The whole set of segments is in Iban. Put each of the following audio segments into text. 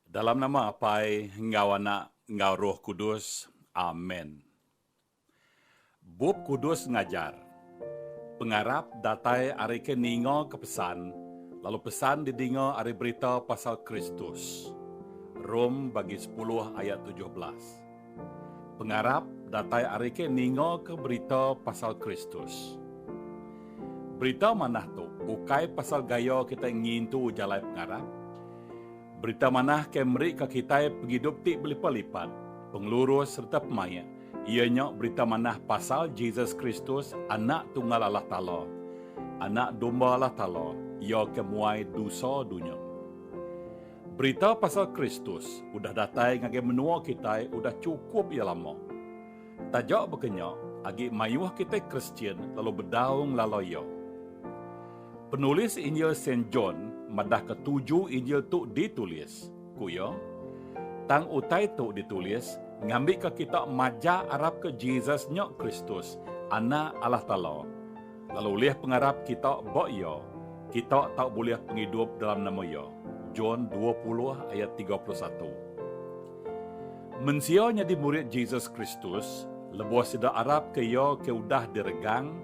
Dalam nama Apai enggau Anak enggau Roh Kudus. Amen. Bup Kudus ngajar, Pengarap datai ari ke ninga ke pesan, lalu pesan didinga ari berita pasal Kristus. Rom bagi sepuluh ayat tujuh belas. Pengarap datai ari ke ningoka berita pasal Kristus. Berita manah tu ukai pasal gaya kitai ngintu jalai pengarap. Berita manah ke merika kitai pengidup ti belipat-lipat, pengelurus sereta pemaik, iya nya berita manah pasal Jesus Kristus, Anak Tunggal Allah Taala, Anak Domba Allah Taala, iya ke muai dosa dunya. Berita pasal Kristus udah datai ngagai menua kitai udah chukup iya lama. Taja baka nya, agi mayuh kitai Kristian lalu bedau ngelala iya. Penulis Injil Saint John madahka tuju Injil tu ditulis. Ku iya, Tang utai tu ditulis ngambika kita majak arapka Jesus nya Kristus, Anak Allah Taala. Lalu ulih pengarap kita ba Iya, kita tau bulih pengidup dalam nama Iya. John dua puluh ayat tiga puluh satu. Mensia nyadi murid Jesus Kristus lebuh sida arapka Iya ke udah diregang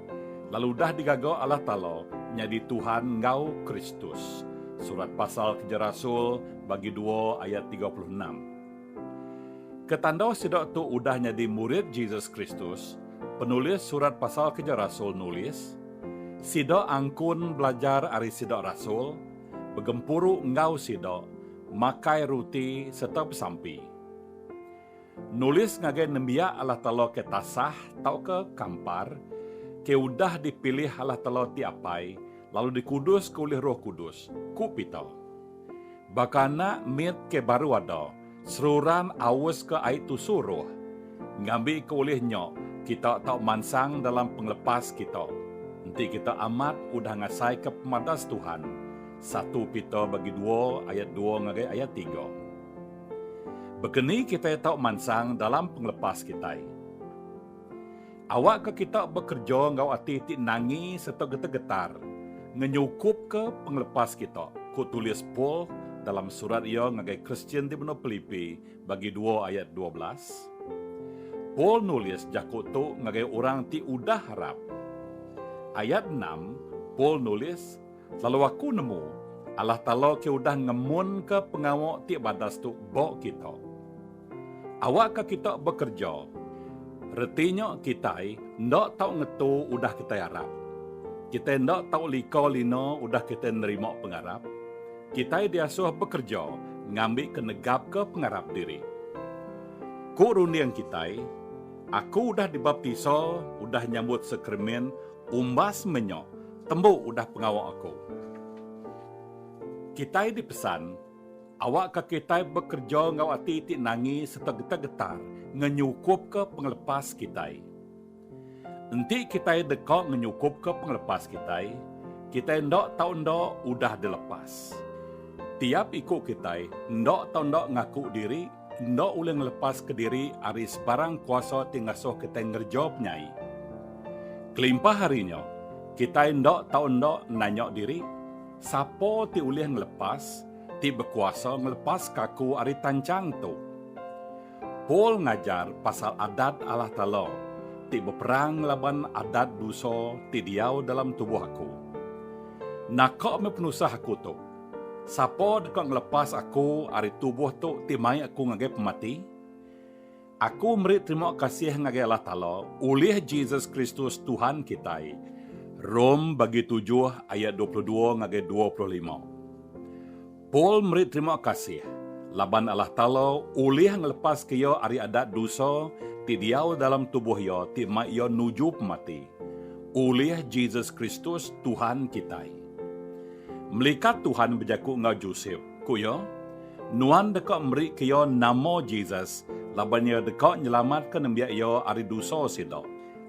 lalu udah digaga Allah Taala nyadi Tuhan enggau Kristus. Surat Pasal Keja Rasul bagi dua ayat tiga puluh enam. Ketanda sida tu udah nyadi murid Jesus Kristus, penulis Surat Pasal Keja Rasul nulis, Sida angkun belajar ari sida rasul, begempuru enggau sida, makai ruti sereta besampi. Nulis ngagai nembiak Allah Taala ke tasah tauka kampar, ke udah dipilih Allah Taala ti Apai lalu dikuduska ulih Roh Kudus, ku Peter. Baka anak mit ke baru ada, seruran aus ke ai tu suruh. Ngambi ke ulih nya, kita tau mansang dalam pengelepas kita. Enti kita amat udah ngasaika pemadas Tuhan, satu Peter bagi dua ayat dua ngagai ayat tiga. Baka ni kitai tau mansang dalam pengelepas kitai? Awakka kita bekereja enggau ati ti nangi sereta getar-getar ngenyukupka pengelepas kita, ku tulis Paul dalam surat iya ngagai Kristian ti benung Pilipi bagi dua ayat dua belas. Paul nulis jaku tu ngagai orang ti udah harap. Ayat enam, Paul nulis, Lalu aku nemu, Allah Taala ke udah ngemunka pengawa ti badas tu ba kita. Awakka kita bekereja. Reti nya kitai enda tau ngetu udah kitai arap. Kitai enda tau lika lina udah kitai nerima pengarap. Kitai diasuh bekereja ngambika negapka pengarap diri. Ku runding kitai, Aku udah dibaptisa udah nyambut Sakramen umbas menya tembu udah pengawa aku. Kitai dipesan Awakka kitai bekereja enggau ati ti nangi sereta getar-getar ngenyukupka pengelepas kitai. Enti kitai deka ngenyukupka pengelepas kitai, kitai enda tau enda udah dilepas. Tiap iku kitai enda tau enda ngaku diri enda ulih ngelepaska diri ari sebarang kuasa ti ngasuh kitai ngereja penyai. Kelimpah ari nya, kitai enda tau enda nanya diri, Sapa ti ulih ngelepas ti bekuasa ngelepaska aku ari tanchang tu? Paul ngajar pasal adat Allah Taala ti beperang ngelaban adat dosa ti diau dalam tubuh aku. Naka meh penusah aku tu? Sapa deka ngelepas aku ari tubuh tu ti mai aku ngagai pemati? Aku meri terima kasih ngagai Allah Taala ulih Jesus Kristus Tuhan kitai. Rom bagi tujuh ayat dua puluh dua ngagai dua puluh lima. Paul meri terima kasih laban Allah Taala ulih ngelepaska iya ari adat dosa ti diau dalam tubuh iya ti mai iya nuju pemati, ulih Jesus Kristus Tuhan kitai. Melikat Tuhan bejaku enggau Josep. Ku iya, Nuan deka meri ke iya nama Jesus laban iya deka nyelamatka nembiak iya ari dosa sida.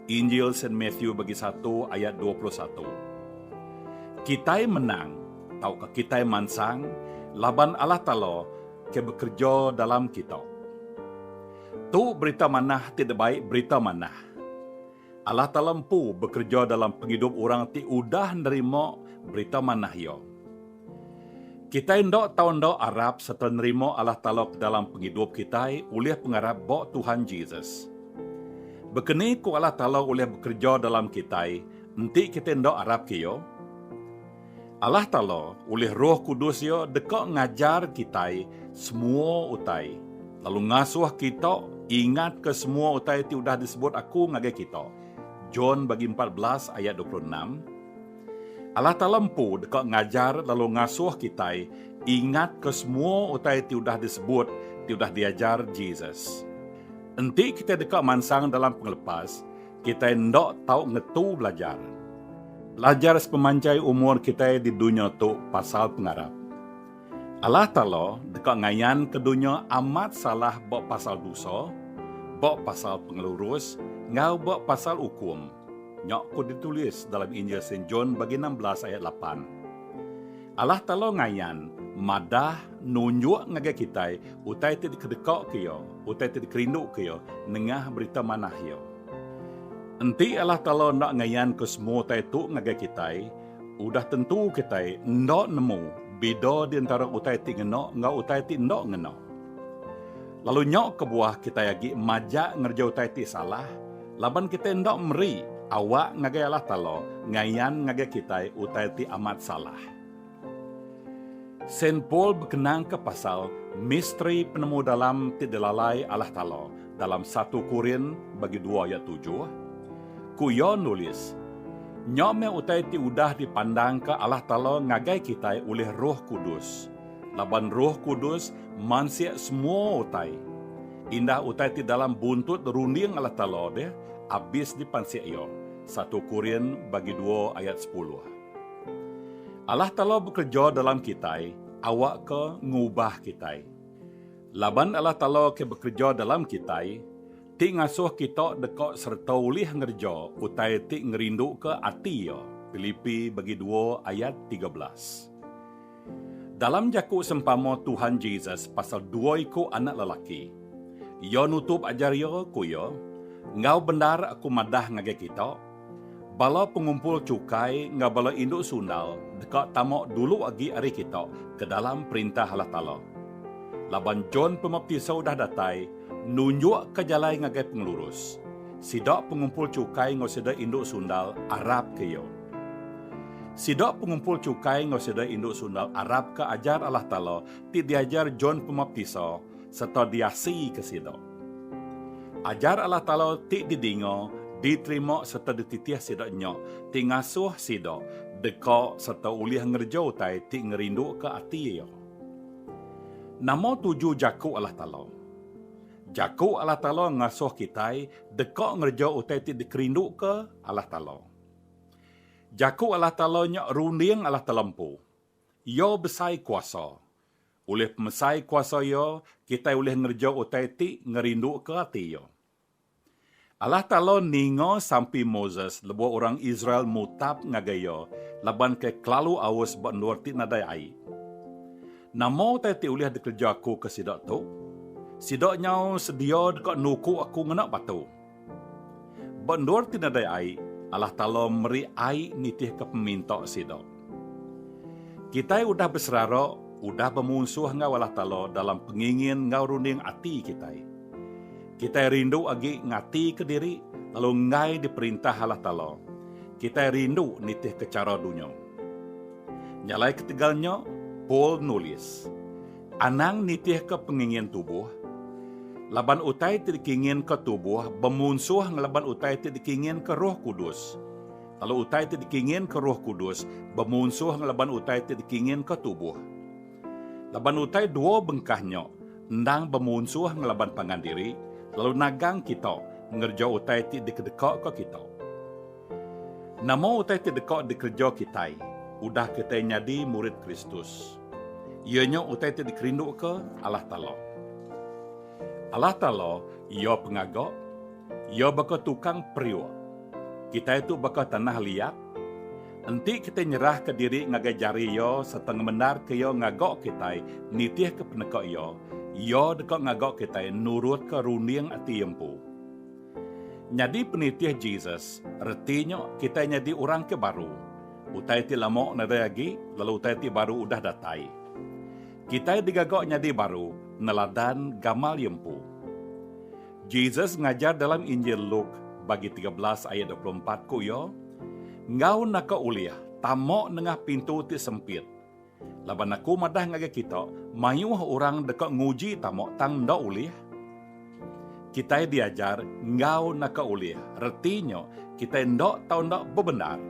Injil Saint Matthew bagi satu ayat dua puluh satu. Kitai menang tauka kitai mansang laban Allah Taala ke bekereja dalam kita. Tu berita manah ti dibai berita manah. Allah Taala empu bekereja dalam pengidup orang ti udah nerima Berita Manah Iya. Kitai enda tau enda arap sereta nerima Allah Taala ke dalam pengidup kitai ulih pengarap ba Tuhan Jesus. Baka ni ku Allah Taala ulih bekereja dalam kitai enti kitai enda arapka Iya? Allah Taala ulih Roh Kudus Iya deka ngajar kitai semua utai, lalu ngasuh kita ingatka semua utai ti udah disebut Aku ngagai kita. John bagi empat belas ayat dua puluh enam. Allah Taala empu deka ngajar lalu ngasuh kitai ingatka semua utai ti udah disebut, ti udah diajar Jesus. Enti kitai deka mansang dalam pengelepas, Kitai enda tau ngetu belajar. Belajar sepemanjai umur kitai di dunya tu pasal pengarap. Allah Taala deka ngayanka dunya amat salah ba pasal dosa, ba pasal pengelurus, enggau ba pasal ukum. Nya ku ditulis dalam Injil Saint John bagi enam belas ayat lapan. Allah Taala ngayan, madah, nunjuk ngagai kitai utai ti dikedekaka Iya, utai ti dikerinduka Iya nengah Berita Manah Iya. Enti Allah Taala enda ngayanka semua utai tu ngagai kitai, udah tentu kitai enda nemu bida di entara utai ti ngena enggau utai ti enda ngena. Lalu nya kebuah kitai agi majak ngereja utai ti salah Laban kitai enda meri awak ngagai Allah Taala ngayan ngagai kitai utai ti amat salah. Saint Paul bekenangka pasal misteri penemu dalam ti dilalai Allah Taala dalam satu Korin bagi dua ayat tujuh. Ku iya nulis, Nya meh utai ti udah dipandangka Allah Taala ngagai kitai ulih Roh Kudus. Laban Roh Kudus mansik semua utai. Indah utai ti dalam buntut runding Allah Taala deh abis dipansik Iya, satu Korin bagi dua ayat sepuluh. Allah Taala bekereja dalam kitai awakka ngubah kitai. Laban Allah Taala ke bekereja dalam kitai, ti ngasuh kita deka sereta ulih ngereja utai ti ngerinduka ati Iya, Pilipi bagi dua ayat tiga belas. Dalam jaku sempama Tuhan Jesus pasal dua iku anak lelaki, Iya nutup ajar Iya, ku Iya, Enggau bendar Aku madah ngagai kita, bala pengumpul chukai enggau bala indu sundal deka tama dulu agi ari kita ke dalam Perintah Allah Taala. Laban John Pemaptisa udah datai nunjukka jalai ngagai pengelurus, sida pengumpul chukai enggau sida indu sundal arapka iya. Sida pengumpul chukai enggau sida indu sundal arap ke ajar Allah Taala ti diajar John Pemaptisa sereta diasika sida. Ajar Allah Taala ti didinga, diterima sereta dititih sida nya ti ngasuh sida deka sereta ulih ngereja utai ti ngerinduka ati Iya. Nama tuju jaku Allah Taala? Jaku Allah Taala ngasuh kitai deka ngereja utai ti dikerinduka Allah Taala. Jaku Allah Taala nya runding Allah Taala empu. Iya besai kuasa. Ulih pemesai kuasa Iya, kitai ulih ngereja utai ti ngerinduka ati Iya. Allah Taala ninga sampi Moses lebuh orang Israel mutap ngagai Iya laban ke kelalu aus ba endur ti nadai ai. Nama utai ti ulih dikereja Aku ke sida tu? Sida nyau sedia deka nuku Aku ngena batu. Ba endur ti nadai ai, Allah Taala meri ai nitihka peminta sida. Kitai udah beserara, udah bemunsuh enggau Allah Taala dalam pengingin enggau runding ati kitai. Kitai rindu agi ngatika diri lalu enggai diperintah Allah Taala. Kitai rindu nitihka chara dunya. Nyalai ketegal nya, Paul nulis, Anang nitihka pengingin tubuh, laban utai ti dikinginka tubuh bemunsuh ngelaban utai ti dikinginka Roh Kudus, lalu utai ti dikinginka Roh Kudus bemunsuh ngelaban utai ti dikinginka tubuh. Laban utai dua bengkah nya endang bemunsuh ngelaban pangan diri lalu nagang kita ngereja utai ti dikedekaka kita. Nama utai ti deka dikereja kitai udah kitai nyadi murid Kristus? Iya nya utai ti dikerinduka Allah Taala. Allah Taala iya pengaga, iya baka tukang periuk. Kitai tu baka tanah liat. Enti kitai nyerahka diri ngagai jari Iya sereta ngemendarka Iya ngaga kitai nitihka peneka Iya, Iya deka ngaga kitai nurutka runding ati Iya empu. Nyadi penitih Jesus reti nya kitai nyadi orang ke baru. Utai ti lama nadai agi lalu utai ti baru udah datai. Kitai digaga nyadi baru neladan gamal iya empu. Jesus ngajar dalam Injil Luke bagi tiga belas ayat dua puluh empat ku iya, Enggau naka ulih tama nengah pintu ti sempit, Laban aku madah ngagai kita, mayuh orang deka nguji tama tang enda ulih. Kitai diajar enggau naka ulih, reti nya kitai enda tau enda bebendar.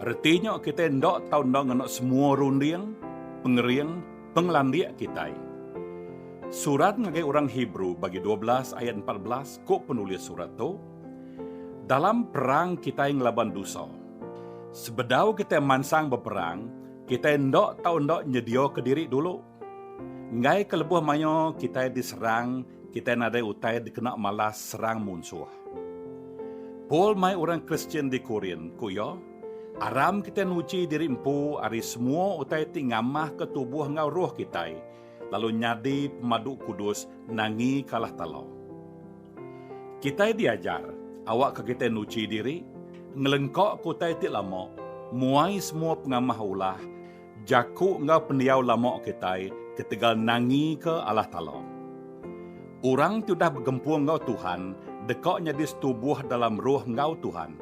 Reti nya kitai enda tau enda ngena semua runding, pengering, pengelandik kitai. Surat ngagai orang Hebrew bagi dua belas ayat empat belas ku penulis surat tu, Dalam perang kitai ngelaban dusa. Sebedau kitai mansang beperang, Kitai enda tau enda nyediaka diri dulu. Enggai ke lebuh mayuh kitai diserang, kitai nadai utai dikena malas serang munsuh. Paul mai orang Kristian di Korint, ku iya, Aram kitai nuji diri empu ari semua utai ti ngamahka tubuh enggau roh kitai, lalu nyadi pemadu kudus nangi kalah tala. Kitai diajar awakka kitai nuchi diri, ngelengkaka utai ti lama, muai semua pengamah ulah, jaku enggau pendiau lama kitai ketegal nangika Allah Taala. Orang ti udah begempung enggau Tuhan deka nyadi setubuh dalam roh enggau Tuhan.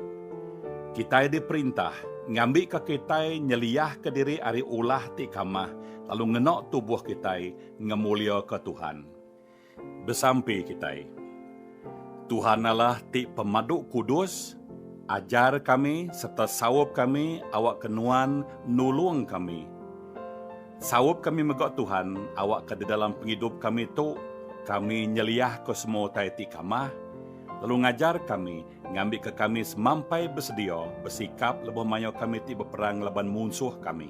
Kitai diperintah ngambika kitai nyeliahka diri ari ulah ti kamah lalu ngena tubuh kitai ngemuliaka Tuhan. Besampi kitai. Tuhan Allah ti pemadu kudus, ajar kami sereta saup kami awakka nuan nulung kami. Saup kami mega Tuhan awakka di dalam pengidup kami tu kami nyeliahka semua utai ti kamah, lalu ngajar kami ngambika kami semampai besedia besikap lebuh mayuh kami ti beperang laban munsuh kami.